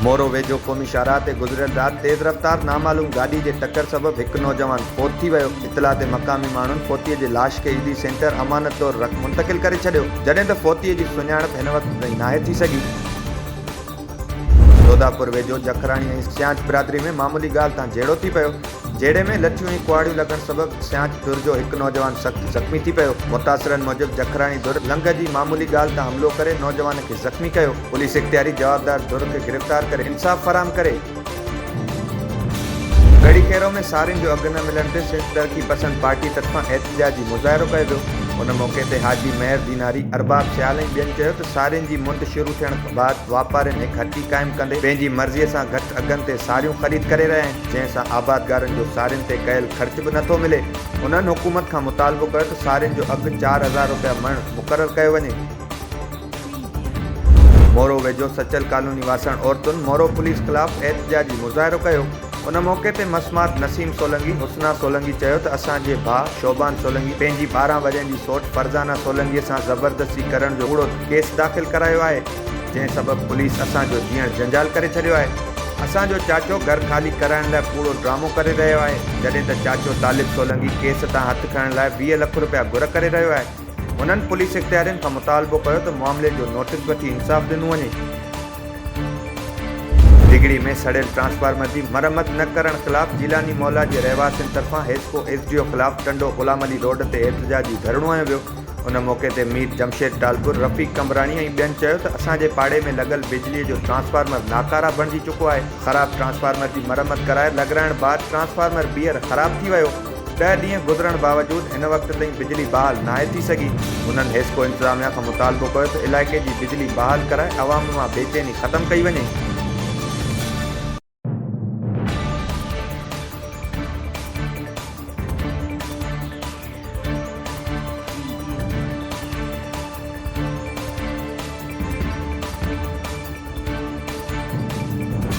مورو ويجهو قومي شاهراهه تي گذريل رات تيز رفتار نامعلوم گاڏي جي ٽڪر سبب هڪ نوجوان فوت ٿي ويو، اطلاع تي مقامي ماڻهن فوتي جي لاش کي عيدي سينٽر امانت طور رک منتقل ڪري ڇڏيو، جڏهن ته فوتي جي سڃاڻپ هن وقت تائين ناهي ٿي سگهي. دوداپور ويجهو جکراڻي ۽ سيانچ برادري ۾ معمولي ڳالهه تان جهيڙو ٿي پيو، جهيڙي ۾ لٺيون ۽ ڪهاڙيون لڳڻ سبب سيانچ ڌر جو هڪ نوجوان سخت زخمي ٿي پيو، متاثرن موجب جکراڻي ڌر لنگهه جي معمولي ڳالهه تان حملو ڪري نوجوان کي زخمي ڪيو، پوليس اختياري جوابدار ڌر کي گرفتار ڪري انصاف فراهم ڪري. ڳڙهي کيرو ۾ سارين جو اگهه نه ملڻ تي سنڌ ترقي پسند پارٽي طرفان احتجاجي مظاهرو ڪيو ويو ان موقعي تي حاجي مهر ديناري، ارباب سيال ۽ ٻين چيو ته سارين جي منڊ شروع ٿيڻ بعد واپارين هڪ هٽي قائم ڪندي پنهنجي مرضي سان گهٽ اگهن تي ساريون خريد ڪري رهيا آهن جنهن سان آبادگارن جو سارين تي ڪيل خرچ به نٿو ملي. انهن حڪومت کان مطالبو ڪيو ته سارين جو اگهه چار هزار رپيا مڻ مقرر ڪيو وڃي. مورو ويجهو سچل ڪالوني واسڻ عورتن مورو پوليس خلاف احتجاجي مظاهرو ڪيو، ان موقعي تي مسمات نسيم سولنگي، حسنا سولنگي چيو ته اسان جي ڀاء شعبان سولنگي پنهنجي ٻارهن ورهين جي سئوٽ فرزانه سولنگي سان زبردستي ڪرڻ جو ڪوڙو ڪيس داخل ڪرايو آهي، جنهن سبب پوليس اسان جو جيئڻ جنجال ڪري ڇڏيو آهي، اسان جو چاچو گهر خالي ڪرائڻ لاء ڪوڙو ڊرامو ڪري رهيو آهي، جڏهن ته چاچو طالب سولنگي ڪيس تان هٿ کڻڻ لاء ويهه لک رپيا گهر ڪري رهيو آهي. هنن پوليس اختيارين کان مطالبو ڪيو ته معاملي جو نوٽيس وٺي انصاف ڏنو وڃي. ڊگهڙي ۾ سڙيل ٽرانسفارمر جي مرمت نه ڪرڻ خلاف جيلاني محلا جي رهواسين طرفان حيسڪو ايس ڊي او خلاف ٽنڊو غلام علي روڊ تي احتجاجي ڌرڻو هنيو ويو ان موقعي تي مير جمشيد ٽالپر رفيق قمبراڻي ۽ ٻين چيو ته اسان جي پاڙي ۾ لڳل بجلي جو ٽرانسفارمر ناڪاره بڻجي چڪو آهي خراب ٽرانسفارمر جي مرمت ڪرائي لڳرائڻ بعد ٽرانسفارمر ٻيهر خراب ٿي ويو ڏهه ڏينهن گذرڻ باوجود هن وقت تائين بجلي بحال ناهي ٿي سگهي، هنن حيسڪو انتظاميا کان مطالبو ڪيو ته علائقي جي بجلي بحال ڪرائي عوام مان بيچيني ختم ڪئي وڃي.